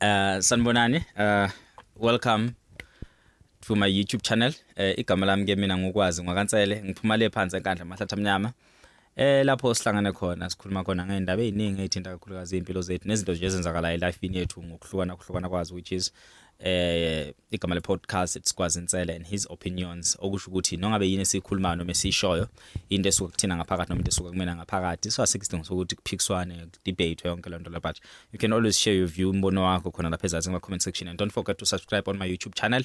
Uh sanibonani uh welcome to my YouTube channel. Eh igama lami ke mina ngokwazi ngwakansele ngiphuma le phansi enkandla mahlathi amnyama. Eh lapho sihlangane khona sikhuluma khona ngeindaba eziningi ezithinta kakhulukazi impilo zethu nezinto nje ezenzakalayo elifini yethu ngokuhlukana kuhlukana kwazo which is eh igama le podcast it's Kwazi Nsele and his opinions okusho ukuthi nongabe yini esikhuluma noma esishoyo into esuka kuthina ngaphakathi noma into esuka kumina ngaphakathi so asikidingo sokuthi kuphikiswane debate yonke lento la but you can always share your view umbono wakho khona lapha ezansi kuma comment section and don't forget to subscribe on my YouTube channel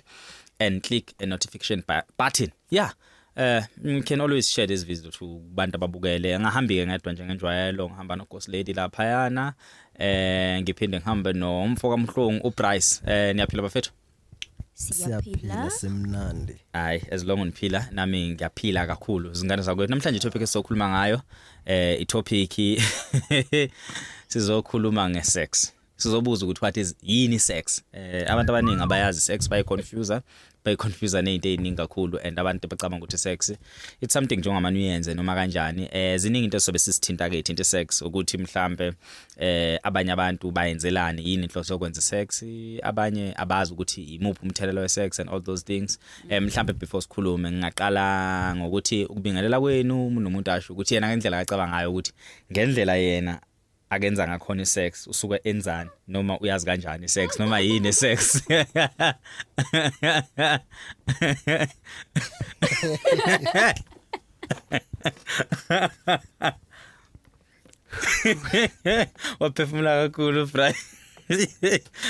and click a notification button yeah Eh you can always share this video to abantu ababukele. Angahambi ke ngedwa nje ngenjwayelo ngihamba no Ghost Lady lapha yana. Eh ngiphinde ngihambe no mfo kaMhlungu uBryce. Eh niyaphila bafethu? siyaphila simnandi hayi as long ngiphila nami ngiyaphila kakhulu izingane zakwethu namhlanje topic esizokhuluma ngayo eh i topic sizokhuluma nge sex sizobuza ukuthi what is yini sex eh abantu abaningi abayazi sex bayi confuse bayi confuse nezinto eziningi kakhulu and abantu bacabanga ukuthi sex it's something njengoba uyenze noma kanjani eh ziningi into sobe sisithinta ke into sex ukuthi mhlambe eh abanye abantu bayenzelani yini inhloso yokwenza sex abanye abazi ukuthi imuphi umthelelo we sex and all those things eh mhlambe before sikhulume ngingaqala ngokuthi ukubingelela kwenu umuntu nomuntu asho ukuthi yena ngendlela acabanga ngayo ukuthi ngendlela yena akenza ngakhona isex usuke enzani noma uyazi kanjani sex noma yini sex waphefumula kakhulu fry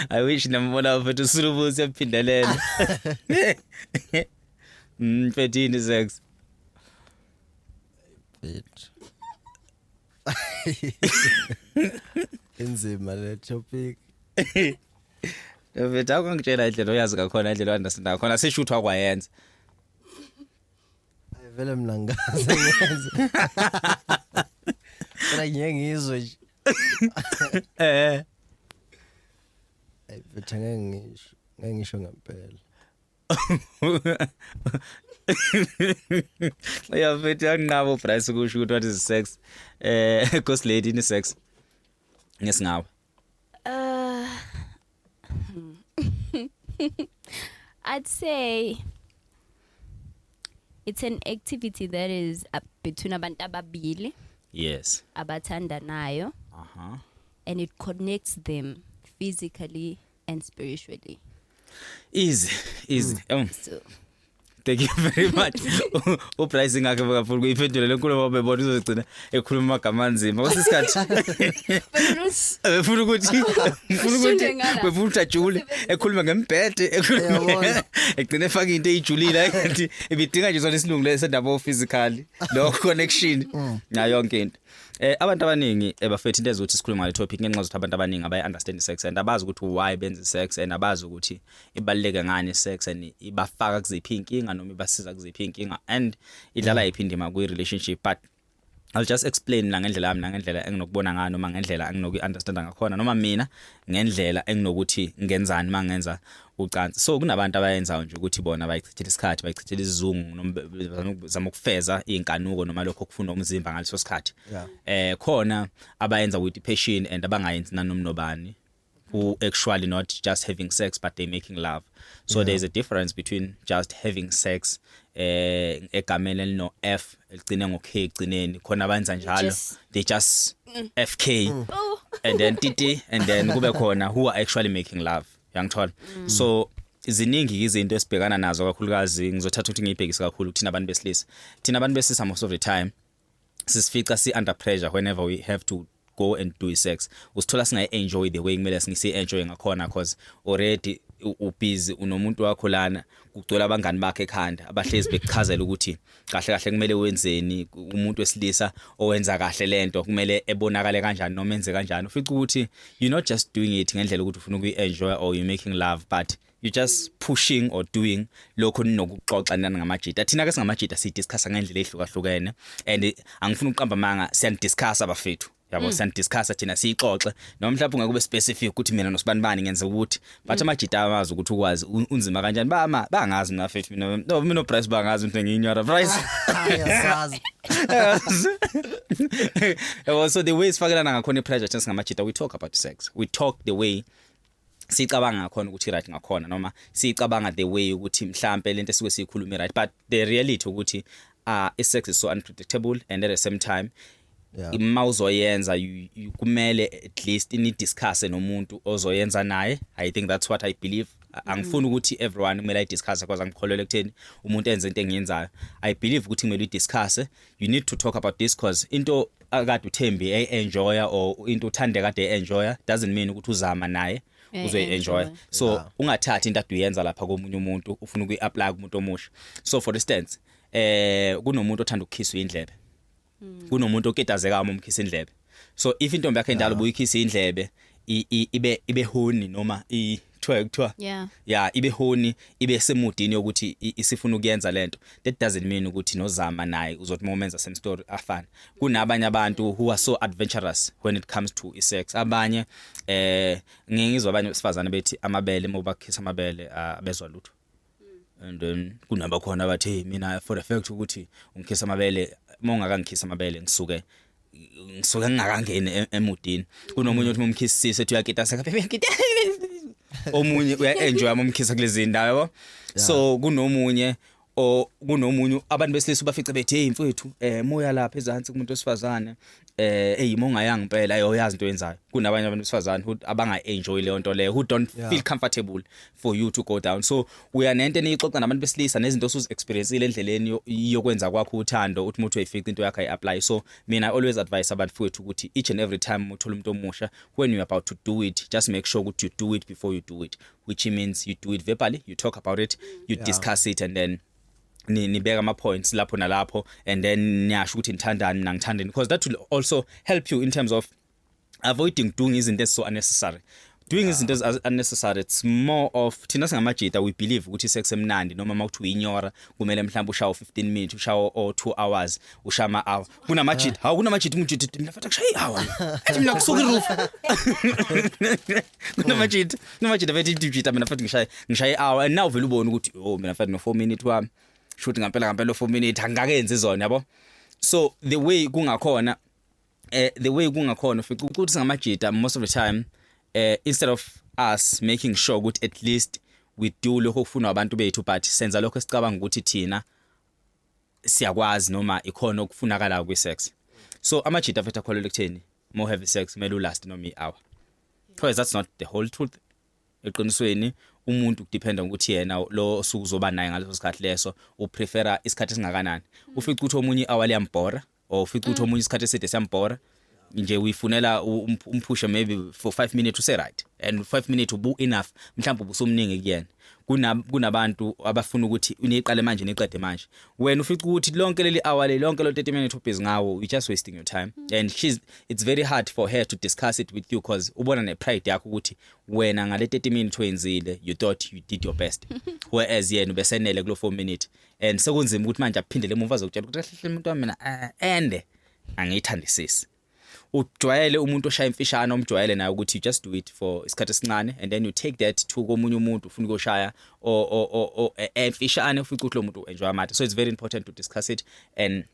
i wish nambona mfethu usulubuzi yaphindelela mfethini mm, sex bitch inzima le topic Mfethu akungitshela indlela oyazi ngakhona indlela oyandasinda ngakhona sishuthi wakwayenza. Ayivele mina ngazi ngiyazi. Kodwa ngiye ngizwe nje. Eh. Ayivele ngeke ngisho ngeke ngisho ngempela. ya mfethu yanqaba uBryce kusho ukuthi what is sex eh ghost lady ni sex ngesingawe uh I'd say it's an activity that is uh, between abantu ababili yes abathandanayo uh-huh and it connects them physically and spiritually. Easy, easy. Mm. Um. So thank you very much upricing akhe bakafundi kuyiphendula lenkulu ngoba bebona uzogcina ekhuluma amagama anzima kwasisikhathi befuna ukuthi befuna ukuthi befuna ukuthi ajule ekhuluma ngembhede ekhuluma egcine efaka into eyijulile ngathi ibidinga nje sona isilungu lesendaba ofizikali lo connection mm. nayo yonke into Eh abantu abaningi ebafethu eh, into ezothi sikhuluma ngale topic ngenxa zokuthi abantu abaningi abayi understand sex and abazi ukuthi why benza sex and abazi ukuthi ibaluleke ngani sex and ibafaka kuziphi inkinga noma ibasiza kuziphi inkinga and idlala iphi indima kwi relationship but I'll just explain la ngendlela yami nangendlela enginokubona ngayo noma ngendlela enginokuyi understand ngakhona noma mina ngendlela enginokuthi ngenzani mangenza ucansi so kunabantu abayenzayo nje ukuthi bona bayichithela isikhathi bayichithela isizungu noma zama ukufeza izinkanuko noma lokho kufuna umzimba ngaleso sikhathi eh khona abayenza with passion and abangayenzi nanomnobani who actually not just having sex but they making love so yeah. there's a difference between just having sex eh egameni elino F eligcine ngo K egcineni khona abenza njalo they just mm. FK mm. and then TT and then kube khona who are actually making love yangithola mm. so ziningi izinto esibhekana nazo kakhulukazi ngizothatha ukuthi ngiyibhekise kakhulu kuthina abantu besilisa thina abantu besilisa most of the time sisifica si under pressure whenever we have to go and do sex usithola singayi enjoy the way kumele singisi enjoy ngakhona cause already ubhizi unomuntu wakho lana kugcwele abangani bakhe ekhanda abahlezi bekuchazela ukuthi kahle kahle kumele wenzeni umuntu wesilisa owenza kahle lento kumele ebonakale kanjani noma enze kanjani ufica ukuthi you not just doing it ngendlela ukuthi ufuna ukuyi-enjoy or you making love but you just pushing or doing lokho ninokuxoxa nani ngamajita thina ke singamajita sidiscussa ngendlela ehlukahlukene and angifuni ukuqamba amanga siyandiscussa bafethu yabo mm. san discuss thina siyixoxe noma mhlawumbe ungeke ube specific ukuthi mina nosibani bani ngenze ukuthi but mm. amajita amazi ukuthi ukwazi unzima kanjani ba ma bangazi mina fethu mina no mina price bangazi into ngiyinyora price ayasazi yabo so the way sifakelana ngakhona ipressure thina singamajita we talk about sex we talk the way sicabanga ngakhona ukuthi right ngakhona noma sicabanga the way ukuthi mhlambe lento esuke siyikhuluma right but the reality ukuthi uh is sex is so unpredictable and at the same time yeah. uma uzoyenza kumele at least ni discuss nomuntu ozoyenza naye i think that's what i believe angifuni ukuthi everyone kumele ayidiscuss because angikholelwa ekutheni umuntu enze into engiyenzayo i believe ukuthi kumele uyidiscuss you need to talk about this cause into akade uThembi e enjoya or into uthande kade e enjoya doesn't mean ukuthi uzama naye Eh, uzoyi eh, enjoy enjoy. so Yeah. ungathathi into ade uyenza lapha komunye umuntu ufuna ukuyi apply kumuntu omusha so for instance eh kunomuntu othanda ukukhiswa indlebe kunomuntu oketazeka uma umkhisa indlebe so if intombi yakhe endala ubuyikhisa indlebe ibe ibe honi noma i kuthiwa kuthiwa yeah yeah ibe honi ibe semudini yokuthi isifuna ukuyenza lento that doesn't mean ukuthi nozama naye uzothi momenza same story afana kunabanye abantu who are so adventurous when it comes to sex abanye eh ngingizwa abanye besifazane bethi amabele mobakhisa amabele abezwa lutho and then kunabakhona abathi mina for the fact ukuthi ungikhisa amabele uma ungakangikhisa amabele ngisuke ngisuke ngingakangeni e-, emudini kunomunye othi umkhisise ethi uyakita saka ngita omunye uyaenjoy amumkhisa kulezi ndawo yabo so kunomunye o kunomunye abantu besilisa bafice bethi hey mfowethu eh moya lapha ezansi kumuntu osifazane eh hey mongayanga impela ayoyazi into yenzayo kunabanye abantu besifazane who abanga enjoy leyo nto leyo who don't yeah. feel comfortable for you to go down so uya nento eniyixoxa nabantu besilisa nezinto osuzi experienceile endleleni yokwenza kwakho uthando uthi umuntu uyifica into yakhe iapply so mina always advise abantu futhi ukuthi each and every time uthola umuntu omusha when you about to do it just make sure ukuthi you do it before you do it which means you do it verbally you talk about it you yeah. discuss it and then nibeka ama points lapho nalapho and then niyasho ukuthi nithandani mina ngithandeni because that will also help you in terms of avoiding doing izinto ezi so unnecessary doing izinto yeah. ezi unnecessary it's more of thina singamajita we believe ukuthi sex emnandi noma makuthi uyinyora kumele mhlawumbe ushawo 15 minutes ushawo o 2 hours ushama hour kunamajita hawu kunamajita umjita mina fatha kushayi hour ethi mina kusuka iroof kunamajita kunamajita bethi imjita mina fatha ngishaye ngishaye hour and now vele ubona ukuthi oh mina fatha no 4 minutes wami shoot ngampela ngampela 4 minutes angakenzi zona yabo so the way kungakhona eh the way kungakhona ufica ukuthi ngamajita most of the time eh instead of us making sure ukuthi at least we do lokho okufunwa abantu bethu but senza lokho esicabanga ukuthi thina siyakwazi noma ikhona okufunakala kwi sex so amajita afetha kholelwa ekutheni more heavy sex kumele ulast noma i-hour because that's not the whole truth eqinisweni umuntu kudependa ukuthi yena lo osuke uzoba naye ngaleso sikhathi leso uprefera isikhathi esingakanani ufica ukuthi omunye i-hour liyambhora or ufica ukuthi omunye isikhathi eside siyambhora nje uyifunela u- um- umphushe maybe for 5 minutes use right and 5 minutes ubu enough mhlawumbe ubusumningi kuyena Kuna- kunabantu abafuna ukuthi niqale manje niqede manje wena ufica ukuthi lonke leli hour leli lonke lo 30 minutes ubhizi ngawo you just wasting your time and she's it's very hard for her to discuss it with you because ubona ne pride yakho ukuthi wena ngale 30 minutes oyenzile you thought you did your best whereas yena ubesenele kulo 4 minute and sekunzima ukuthi manje aphindele emuva azokutshela ukuthi kahle umuntu wami mina ende eh, angiyithandisisi ujwayele umuntu oshaya imfishane omjwayele naye ukuthi you just do it for isikhathi esincane and then you take that to komunye umuntu ufuna ukuyoshaya e, emfishane ufuna ukuthi lo muntu enjoy amathe so it's very important to discuss it and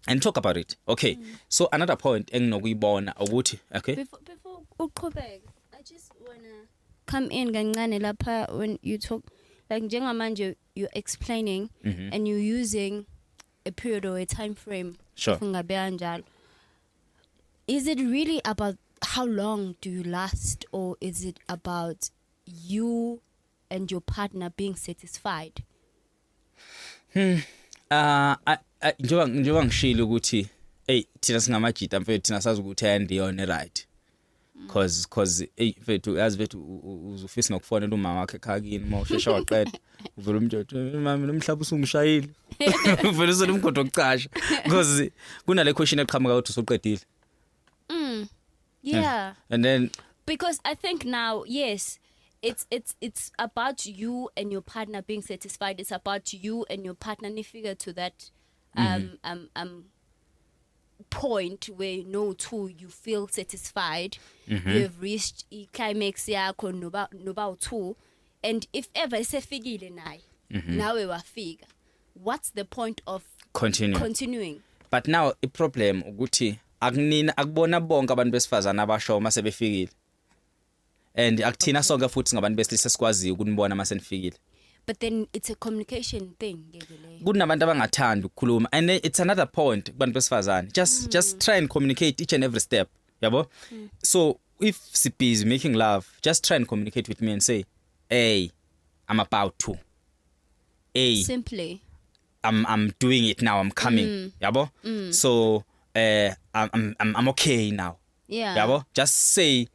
and talk about it okay mm. so another point enginokuyibona ukuthi okay before, before uqhubeke i just wanna come in kancane lapha when you talk like njengamanje you're explaining mm -hmm. and you're using a period or a time frame sure. ungabeka njalo is it really about how long do you last or is it about you and your partner being satisfied hmm uh I, I njengoba njengoba ngishilo ukuthi hey thina singamajita mfethu thina sazi ukuthi ayandiyona right mm. cause cause ey mfethu yazi mfethu uzufisa nokufonela umama wakhe ekhakini uma ushesha waqeda uvela umuntu uthi mama nomhlaba usungishayile uvela usona umgodo okucasha cause kunale question eqhamuka ukuthi usuqedile mm yeah and then because i think now yes it's it's it's about you and your partner being satisfied it's about you and your partner nifika to that um mm -hmm. um um point where you know to you feel satisfied mm -hmm. you have reached i climax yakho noba noba u2 and if ever isefikile naye mm -hmm. nawe wafika what's the point of continuing continuing but now i problem ukuthi akunina akubona bonke abantu besifazana abasho uma sebefikile and akuthina sonke futhi ngabantu besilisa sikwaziyo ukunibona uma senifikile but then it's a communication thing ngeke leyo kunabantu abangathandi ukukhuluma and it's another point kubantu besifazane just mm. just try and communicate each and every step yabo mm. so if si busy making love just try and communicate with me and say hey i'm about to hey simply I'm I'm doing it now I'm coming mm. yabo mm. so eh uh, I'm I'm I'm okay now yeah yabo just say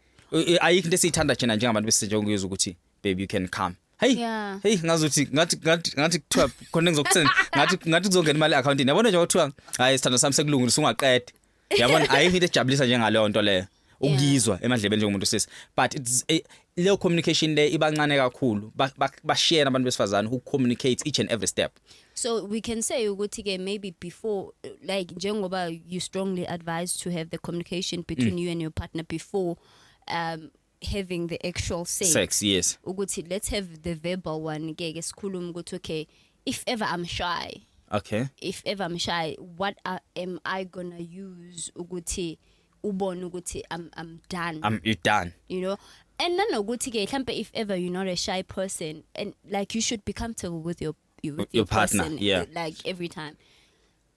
ayikho into esiyithanda thina njengabantu besinje ukuyizwa ukuthi baby you can come hey yeah. hey ngazuthi ngathi ngathi ngathi kuthiwa khona ngizokuthini ngathi ngathi kuzongena imali accountini yabona nje kuthiwa hayi sithando sami sekulungile usungaqede yabona ayikho into ejabulisa njengaleyo nto leyo ukuyizwa emadlebeni njengomuntu sisi but it's eh, leyo communication le ibancane kakhulu Ba- ba- bashiyene abantu besifazane who communicate each and every step so we can say ukuthi ke maybe before uh, like njengoba you strongly advised to have the communication between you and your partner before um having the actual sex, sex yes ukuthi let's have the verbal one ke ke sikhuluma ukuthi okay if ever i'm shy okay if ever i'm shy what are, am i going to use ukuthi ubone ukuthi i'm i'm done i'm you done you know and nanokuthi ke mhlambe if ever you're not a shy person and like you should be comfortable with your your, with your, your partner person, yeah like every time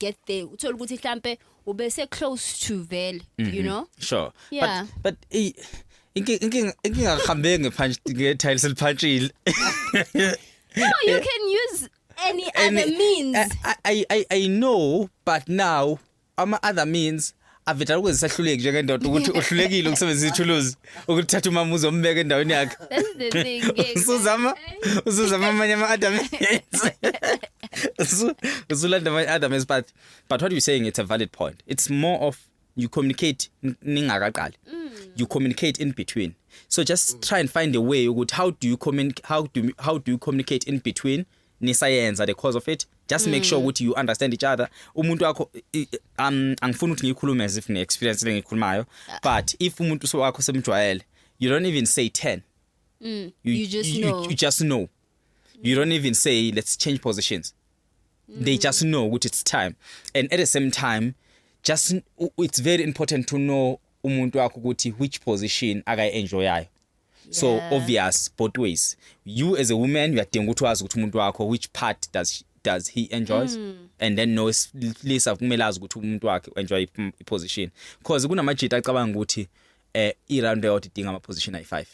get there uthola ukuthi mhlambe ube se close to vele you Mhm. know sure Yeah. but but i- inki- inkinga inkinga ngihambe ngepunch ngetiles eliphantshile no you can use any other means I, I I I know but now ama other means avetala ukuze sahluleki njengendoda ukuthi uhlulekile ukusebenzisa ithuluzi ukuthatha umama uzombeka endaweni yakhe That's the thing. yeah. usuzama usuzama amanye ama-adam Usu- usulanda amanye adam but but what you saying it's a valid point it's more of you communicate n- ningakaqali you communicate in between so just try and find a way ukuthi how do you communicate how do, how do you communicate in between nisayenza the cause of it just mm. make sure mm. ukuthi you understand each other umuntu wakho um angifuni ukuthi ngiyikhulume as if ngi experience le ngikhulumayo ah. but if umuntu so wakho semjwayele you don't even say 10 mm. you, you just you, know you, you just know you don't even say let's change positions mm. they just know ukuthi it's time and at the same time just it's very important to know umuntu wakho ukuthi which position akayi enjoyayo so Yeah. obvious both ways you as a woman uyadinga ukuthi wazi ukuthi umuntu wakho which part does she, does he enjoys Hmm. and then no lisa kumele azi ukuthi umuntu wakhe enjoy i position because kunamajita acabanga ukuthi eh i round out idinga ama position ayi5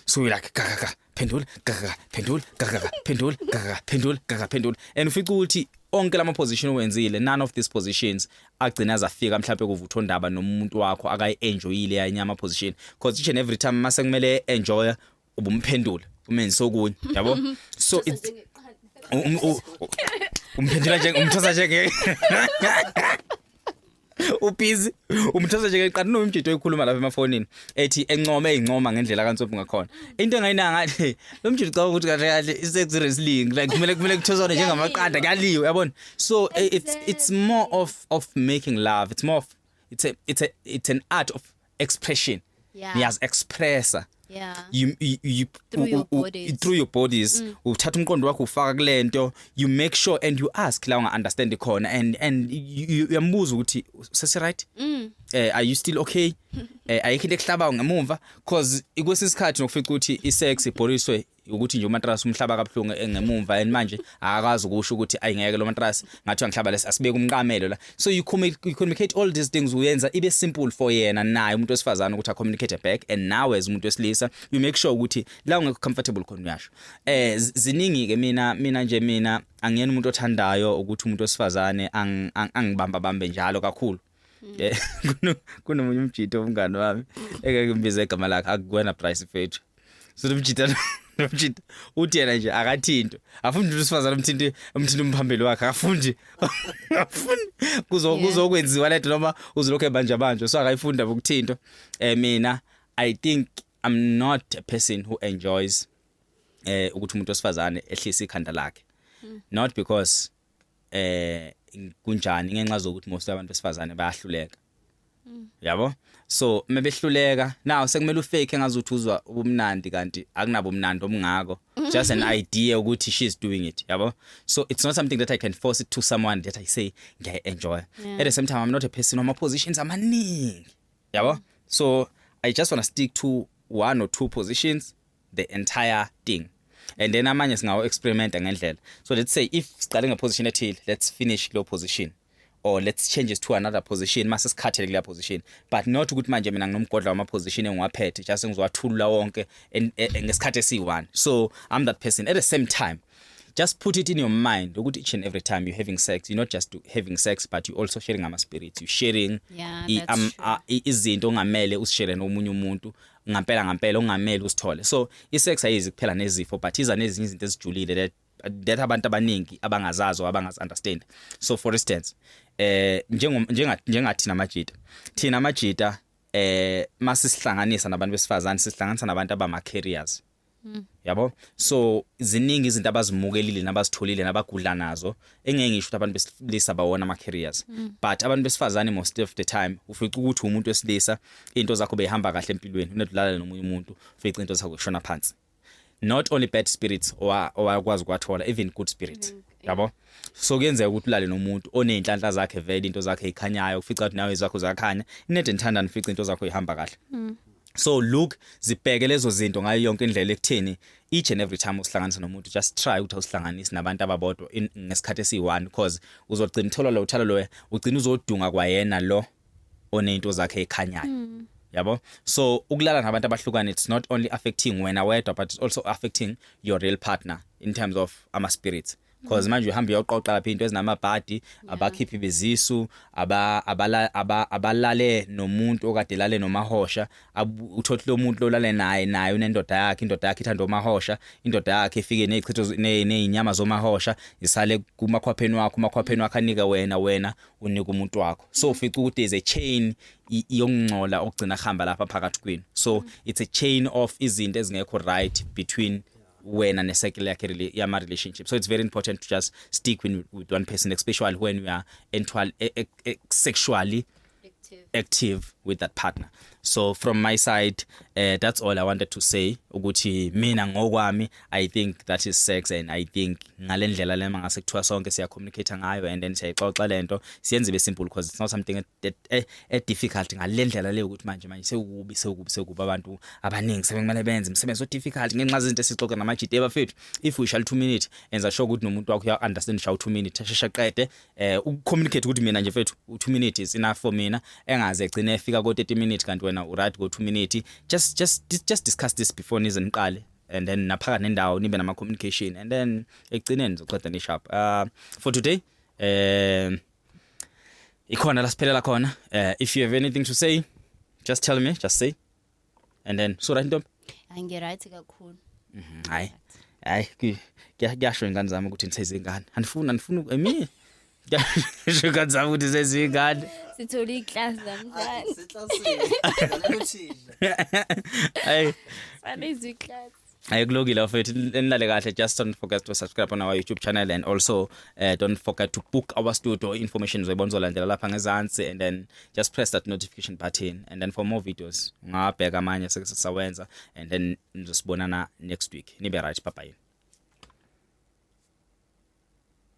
so you're like ga ga ga phendula ga ga ga, phendula ga ga ga phendula ga ga ga, phendula ga ga phendula and ufica ukuthi onke lama position owenzile none of these positions agcina zafika mhlawumbe kuvutha ondaba nomuntu wakho akayi-enjoyile yanye ama-position because each and every time uma sekumele enjoya ubumphendula umenze okunye yabo so it's um- u- u- umphendula nje umthosa njenge ubhizi umthosa nje ngeqala nomjito oyikhuluma lapha emafonini ethi encome eyincoma ngendlela kaNtsophi ngakhona into engayina ngathi lo mjito ucabanga ukuthi kahle kahle i-sex rest link like kumele kumele kuthoswane njengamaqanda kuyaliwe yabona so exactly. Eh, it's it's more of of making love it's more of it's a it's a it's an art of expression yeah. niyaz expressa yeah you you, you through, u, your bodies. U, through your bodies mm. uthatha umqondo wakho ufaka kulento you make sure and you ask la unga understand khona and and uyambuza ukuthi sesi right mm. eh are you still okay eh ayikho into ekuhlaba ngemumva cause ikwesinye isikhathi nokufica ukuthi isex ibhoriswe ukuthi nje umatrasi umhlaba kabuhlungu engemumva and manje akakwazi ukusho ukuthi ayingeke lo matrasi ngathiwa ngihlaba lesi asibeke umqamelo la so you communicate all these things uyenza ibe simple for yena naye umuntu wesifazana ukuthi a communicate back and nawe as umuntu wesilisa you make sure ukuthi la ungekho comfortable khona uyasho eh ziningi ke mina mina nje mina angiyena umuntu othandayo ukuthi umuntu wesifazane angibamba bambe njalo kakhulu Eh, kuno- kunomunye umjita omngane wami engeke ngibize igama lakhe akuwena price fethu so nomjita nomjita uthi yena nje akathintwe afundi nje usifazane umthinte umthinte umphambili wakhe afundi afundi kuzo Yeah. kuzokwenziwa lento noma uzolokhu ebanja banje so akayifunda ukuthinto eh mina i think i'm not a person who enjoys eh ukuthi umuntu osifazane ehlisa ikhanda lakhe not because eh kunjani ngenxa zokuthi most abantu besifazane bayahluleka mm. yabo so mebehluleka now sekumele ufake engazi ukuthi uzwa ubumnandi kanti akunabo umnandi omngako just an idea ukuthi she's doing it yabo so it's not something that i can force it to someone that i say ngiya enjoy yeah. at the same time i'm not a person on my positions amaningi yabo so i just want to stick to one or two positions the entire thing and then amanye singawo experiment ngendlela so let's say if siqale ngeposition ethile let's finish lo position or let's change it to another position mase sikhathele kule position but not ukuthi manje mina nginomgodla wama position engiwaphethe just ngizowathulula wonke e, e, ngesikhathi esiyi-1 so i'm that person at the same time just put it in your mind ukuthi each and every time you're having sex you're not just having sex but you're also sharing ama spirits you're sharing yeah, um, uh, izinto ongamele usishare nomunye umuntu ngampela ngampela ongameli usithole so isex ayizi kuphela nezifo but iza nezinye izinto ezijulile that that abantu abaningi abangazazi or abangazi understand so for instance eh njengo njengathi namajita thina amajita eh masisihlanganisa nabantu besifazane sisihlanganisa nabantu abama carriers Mm. yabo so ziningi izinto abazimukelile nabazitholile nabagudla nazo engeke ngisho ukuthi abantu besilisa bawona ama carriers mm. but abantu besifazane most of the time ufica ukuthi umuntu wesilisa into zakho behamba kahle empilweni unedlala nomunye umuntu ufica into zakho kushona phansi not only bad spirits owakwazi kwathola even good spirits mm, yabo so kuyenzeka ukuthi ulale nomuntu oneyinhlanhla zakhe vele into zakhe ikhanyayo ufica ukuthi nawe izakho zakhanya inede nithanda nifica into zakho ihamba kahle so look zibheke lezo zinto ngayo yonke indlela ekutheni each and every time usihlanganisa nomuntu just try ukuthi usihlanganise nabantu ababodwa ngesikhathi esiyi-one because uzogcina uthola lo uthalo loyo ugcina uzodunga kwayena lo oney'nto zakhe ekhanyayo mm. yabo so ukulala nabantu abahlukane it's not only affecting wena wedwa but it's also affecting your real partner in terms of ama-spirits cause manje uhamba uyoqoqa lapha into ezinamabhadi abakhiphi bezisu aba abala- aba- abalale nomuntu okade lale nomahosha abu- uthothi lomuntu lolale naye naye unendoda yakhe indoda yakhe ithanda omahosha indoda yakhe ifike nezichitho z- ne- nezinyama zomahosha isale kumakhwapheni wakho umakhwapheni wakho anika wena wena unika umuntu wakho so ufica ukuthi there's a chain i- yokungcola okugcina kuhamba lapha phakathi kwenu so it's a chain of izinto ezingekho right between wena ne-circle yakhe rela- yama-relationship so it's very important to just stick with, with one person especially when you are entwal- e- e- e- sexually Active. active with that partner so from my side uh, that's all i wanted to say ukuthi mina ngokwami i think that is sex and i think ngale ndlela lema ngase kuthiwa sonke siyacommunicate ngayo and then siyayixoxa lento siyenze ibe simple because it's not something that e, e, e difficult ngalendlela leyo ukuthi manje manje sewukubi sewukubi sewukubi abantu abaningi sebekumele benze imisebenzi o difficult ngenxa zezinto esixoxe namajidi ebafethu if we shall 2 minute enza sure ukuthi nomuntu wakho uya understand shall 2 minute sheshe qede eh u communicate ukuthi mina nje mfethu u 2 minute is enough for mina engaze egcine efika ko 30 minute kanti wena u right go 2 minute just just just discuss this before nize niqale and then naphaka nendawo nibe nama communication and then ekugcineni zoqeda ni sharp uh for today um uh, ikhona la siphelela khona uh, if you have anything to say just tell me just say and then so right ntombi angiright kakhulu mhm, hayi hayi kuyasho ingane zami ukuthi nisezingane andifuni andifuni emi ngisho ingane zami ukuthi sezingane sithole iclass namhlanje siclassini hayi sanizwi class Hayi kulokile bafethu nilale kahle just don't forget to subscribe on our YouTube channel and also uh, don't forget to book our studio information uzoyibona uzolandela lapha ngezansi and then just press that notification button and then for more videos ungabheka amanye sekusawenza and then nizosibonana next week nibe right bye bye